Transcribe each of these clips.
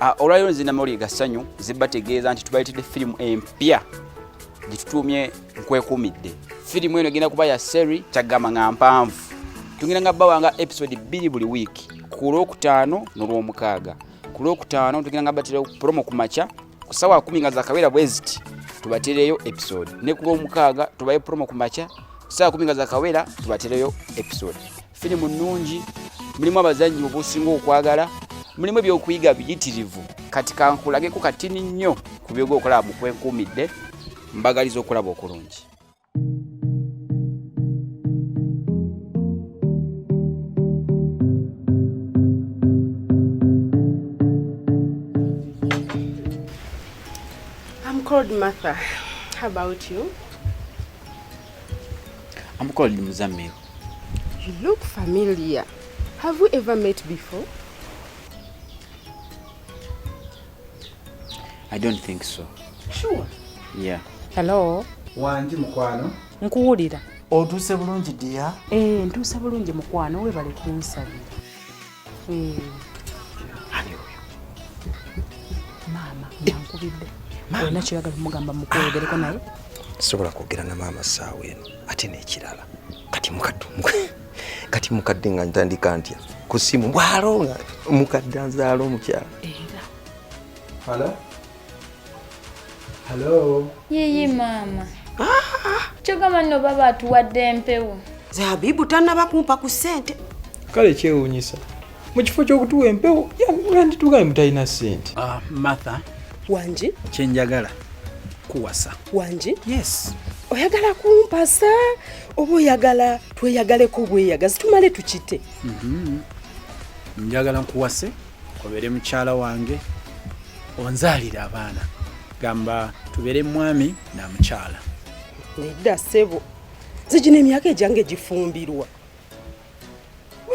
Ah, olwaliro nze namawulire ga ssanyu zibategeeza nti tubaleetedde firimu empya gyetutuumye nkwekuumidde firimu eno egenda kuba ya seri kyagamba nga mpanvu tugenda nga bawanga episode bbiri buli wiiki ku lwokutaano n'olwomukaaga ku lwokutaano tugenda nga baterewo promo ku makya ku sawa kumi nga zakabeera bweziti tubatereyo episode ne ku lwomukaaga tubaye promo ku makya ku sawa kumi nga zakabeera tubatereyo episode Firimu nnungi, mulimu abazannyi obusinga okwagala, mulimu ebyokuyiga biyitirivu. Kati kankulageko katini nnyo ku byoga okulaba mu kwenkuumidde, mbagaliza okulaba okulungi. I'm called Martha. How about you? I'm called Muzamil. You look familiar. Have we ever met before? I don't think so. Sure. Yeah. Hello. Wanji mukwano. Nkuwulira. Otuuse bulungi dear? Eh, ntuuse bulungi mukwano webale kunsabira. maama yankubidde olina kyoyagala omugamba mukwoyogereko naye sobola kwogera na maama saawa eno ate nekirala kati mukadde kati mukadde nga ntandika ntya ku simu bwalonga mukadde anzaala omukyala Hello. Yiyi maama. Ah! Kyogamba nno baba atuwadde empewo. Zabibu tannaba kumpa ku ssente. Kale kyewuunyisa. Mu kifo ky'okutuwa empewo yanditugaye mutalina ssente. Ah, Martha. Wangi. Kye njagala kuwasa. Wangi. Yes. Oyagala kumpasa oba oyagala tweyagaleko bweyagazi tumale tukite. Mm -hmm. Njagala nkuwase. obere mukyala wange onzalire abaana gamba tubere mwami na mukyala nedda sebo zijina emyaka ejange egifumbirwa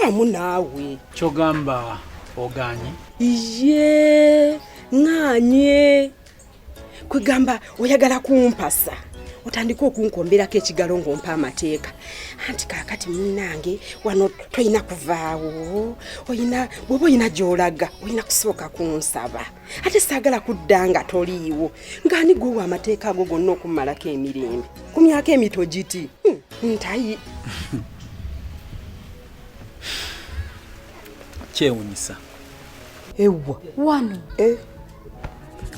wamu naawe kyogamba oganye iye nganye kwegamba oyagala kumpasa otandika okunkomberako ekigalo ng'ompa amateeka anti kaakati munnange wano tolina kuvaawo oyina bwoba olina gy'olaga olina kusooka kunsaba ate saagala kudda nga toliiwo ng'ani gwewa amateeka ago gonna okummalako emirembe ku myaka emito giti hmm, ntayi kyewunyisa ewa wano eh.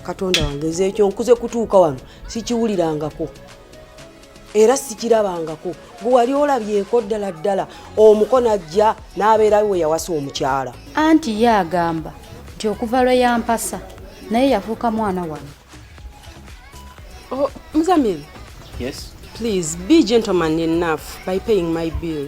katonda wange nze ekyo nkuze kutuuka wano sikiwulirangako era sikirabangako gwe wali olabyeko ddala ddala omuko najja n'abeerayo we yawasa omukyala anti ye agamba nti okuva lwe yampasa naye yafuuka mwana wano oh, muzamiri yes please be gentleman enough by paying my bill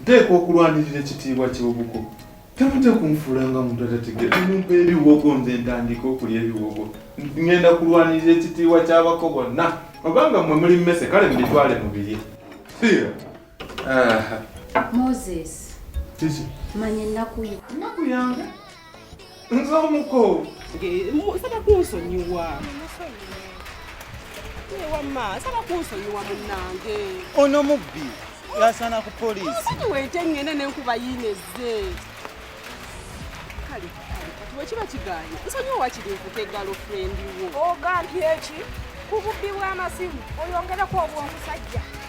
nteekwa okulwanirira ekitiibwa ky'obuko temujja kunfuulanga muntu atategeera mumpa ebiwogo nze ntandika okulya ebiwogo ngenda kulwanirira ekitiibwa ky'abako bonna obanga mwe muli mmese kale mubitwale mubirye siira moses kiki manya ennaku yo ennaku yange nze omuko nsaba kunsonyiwa wamma nsaba kunsonyiwa munange ono mubbi yasana ku polisi wete ngende nenkuba yinezze kale wekiba kiganye nsonyiwa wakiri nkuka egalo frendi wo ogambye eki ku bubbi bw'amasimu oyongereko obw'omusajja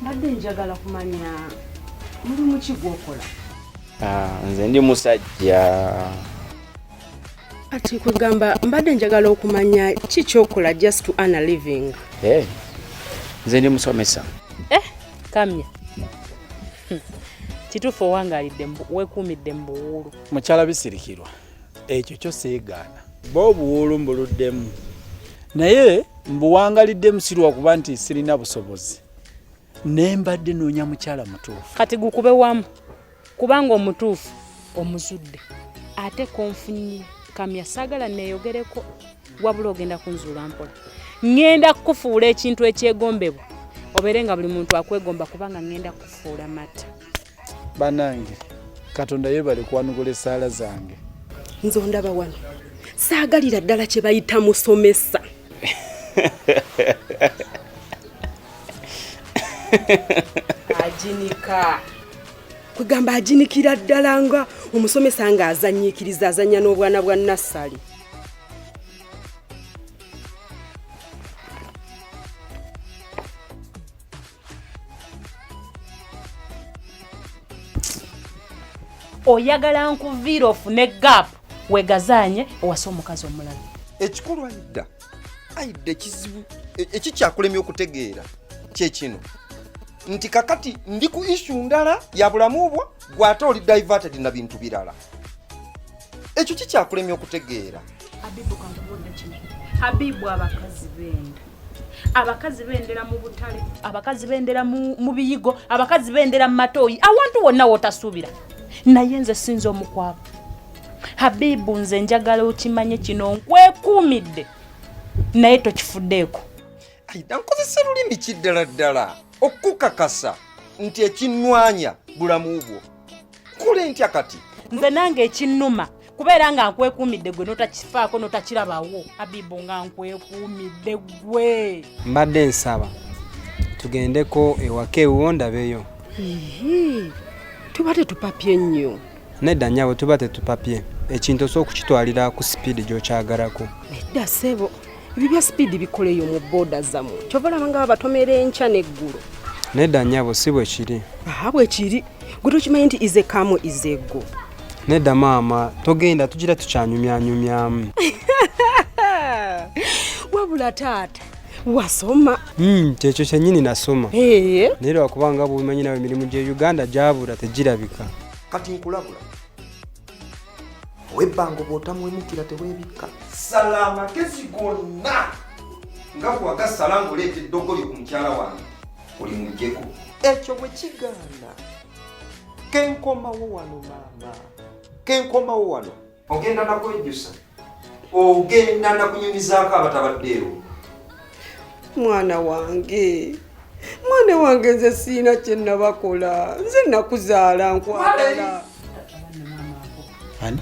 mbadde njagala kumanya mulimu ki gwokola ah, nze ndi musajja ati kwegamba mbadde njagala okumanya ki kyokola just to ana living eh, nze ndi musomesa eh, kamya kituufu owangalidde wekuumidde mu buwuulu mukyala bisirikirwa ekyo kyo seegaana ba obuwuulu mbuluddemu naye mbuwangaliddemu sirwakuba nti sirina busobozi naye mbadde noonya mukyala mutuufu kati gukube wamu kubanga omutuufu omuzudde ate konfunye kamya saagala neeyogereko wabula ogenda kunzuula mpola ŋŋenda kukufuula ekintu ekyegombebwa obeere nga buli muntu akwegomba kubanga ŋŋenda kukufuula mata banange katonda yebale kwanukula esaala zange nze ondaba wano saagalira ddala kye bayita musomesa ajinika kwegamba ajinikira ddala nga omusomesa nga azanyiikiriza azanya n'obwana bwa nassali oyagala nkuviira ofune gap wegazaanye owase omukazi omulala ekikulu aida aida ekizibu e- ekikyakulemya okutegeera kyekino nti kakati ndi ku issu ndala ya bulamu bwo gwate oli diverted na bintu birala ekyo kikyakulemya okutegeera habibu abakazi benda abakazi bendera mu butale abakazi bendera mu biyigo abakazi bendera mu matooyi awantu wonna wotasuubira naye nze sinza omukwabo habibu nze njagala okimanye kino nkwekuumidde naye tokifuddeeko aida nkozesa lulimi ki ddala ddala okukakasa nti ekinnwanya bulamu bwo kule ntya kati nze nange ekinnuma kubeera nga nkwekuumidde gwe notakifaako notakirabawo abibu nga nkwekuumidde gwe mbadde nsaba tugendeko ewaka ewuwo ndabeyo tuba tetupapye nnyo nedda nyabo tuba tetupapye ekintu osobola okukitwalira ku sipiidi gyokyagalako nedda sebo ebyo bya sipiidi bikoleyo mu booda zamu kyova olaba nga babatomera enkya n'eggulu nedda nyabo si bwe kiri aha bwe kiri gwe tokimanyi nti ize kamu izeggo nedda maama togenda tugira tukyanyumyanyumyamu wabula taata wasoma hmm, kyekyo kyenyini nasoma naye lwakuba nga bwobimanyi nawe emirimu gye uganda gyabula tegirabika kati nkulabula owebbango bwotamwemukira tewebikka sala amagezi gonna nga bwagasala ngaoleeta eddogolyo ku mukyala wange oli mujjeko ekyo bwe kigaana kenkomawo wano maama kenkomawo wano ogenda nakwejjusa ogenda nakunyumizaako abatabaddeewo mwana wange mwana wange nze siina kyenabakola nze nakuzaala nkwagala ani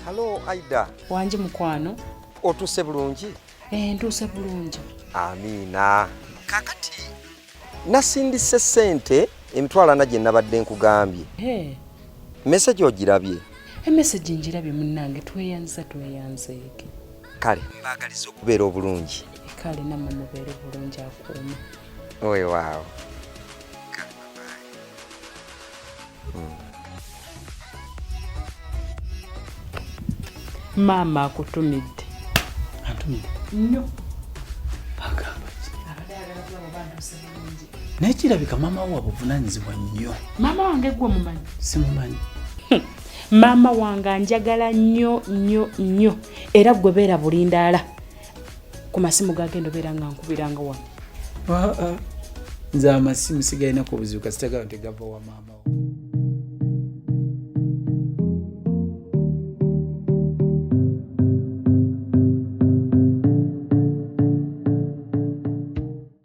halo aida wangi mukwano otuuse bulungi eh, ntuuse bulungi amiina kakati nasindise sente emitwalo ana gye nabadde nkugambye meseji ogirabye emeseji njirabye munange tweyanza tweyanzeege kale mbagaliza okubeera obulungi kale namwe mubeere bulungi akuuma oyo waawo maama akutumidde atumidde nnyo agamba naye kirabika maama wo wabuvunanyizibwa nnyo maama wange gwe mumanyi simumanyi hmm. maama wange anjagala nnyo nnyo nnyo era gwe beera bulindaala ku masimu gagenda obeera nga nkubiranga wano ah, ah. nze amasimu sigalinaku obuzibu kasitagala nti gava wa maama